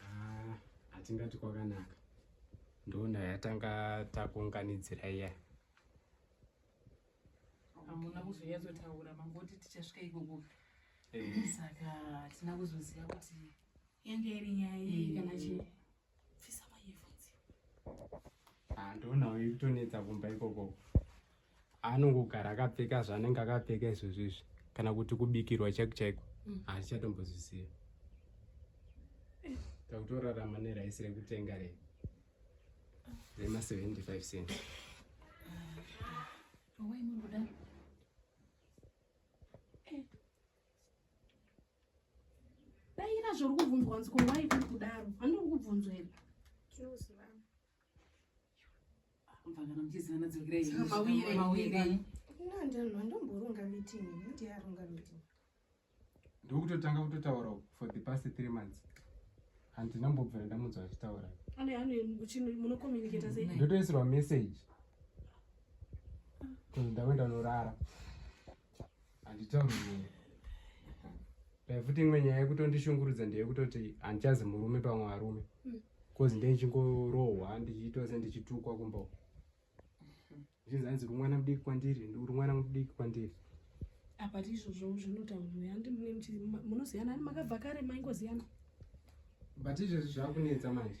Ah, hatingati kwakanaka ndoona yatanga takuunganidzira iya hamuna kuzonyatsotaura mangoti tichasvika ikoko eh. saka hatina kuzoziva kuti yange iri nyaya iyi eh. kana chii pfisa mayefonzi ah, ndoonawo iri kutonetsa kumba ikoko anongogara akapfeka zvaanenge akapfeka izvozvo izvi kana kuti kubikirwa chaiko chaiko mm. haachatombozviziva takutorarama neraisi rekutenga re rema 75 cent daira zvauri kubvunzwa nziko wai kuri kudaro handiri kubvunzwa here ndokutotanga kutotaura for the past three months handina mbobvira ndamunzwa achitaura ndotoisirwa message kuzi ndave ndanorara handitauri nini dai futi imwe nyaya yekutondishungurudza ndeyekutoti handichazi murume pamwe varume bcause hmm. ndendichingorohwa ndichiitwa se ndichitukwa kumba uku zvinzi hanzi uri mwana mudiki kwandiri uri mwana mudiki kwandiri apa tiizvozvo zvinotaurwa handi munoziyana ani makabva kare maingoziyana but izvezvi zvakunetsa manje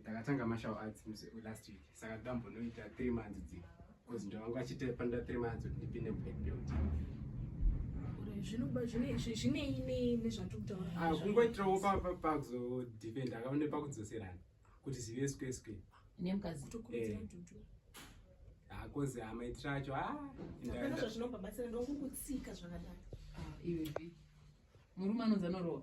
ndakatanga martial arts muse last week saka ndambonoita three months dzi because ndovanga vachiita panoda three months kuti ndipinde black belt ah, kungoitirawo pakuzodependa akaone pakudzoserana kuti zive sque sque hakozi eh. amaitira acho aazvinobabatsira ah, ndokukutsika zvakadai ah, murume anonzi anorowa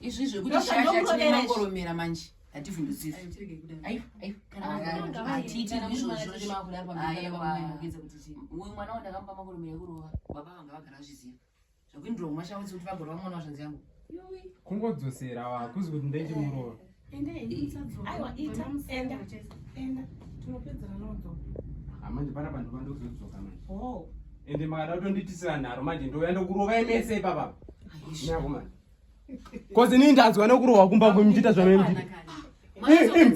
izvi zvekuti shasha tine mangoromera manje hativhundudziri mwana wandakamba mangoromera ekurova baba vanga vagara vazviziva zvakuindira kumashauzi kuti vagorova mwana wazvanzi yangu kungodzosera wakuzi kuti ndaiti murova manje pana panhu pandozodzoka manje oh. ende makada kutonditisira nharo manje ndouya ndokurovai mese ipapa nyako manje kozi inini ndanzwa nokurohwa kumba kwenyu ndiita zvanoendii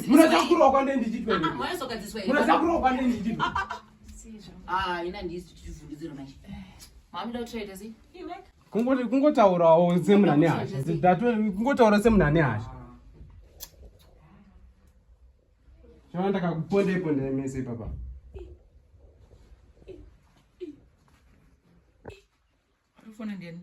munoda kurohwa kwandei ndichitmunoda kurohwa kwandei ndichit ina ndisi tichivhundidziro manje mamuda kutraita sei kungoti kungotaurawo semuna nehasha kungotaura semuna nehasha chava ndakakuponda iponda mese ipapa fona ndiyani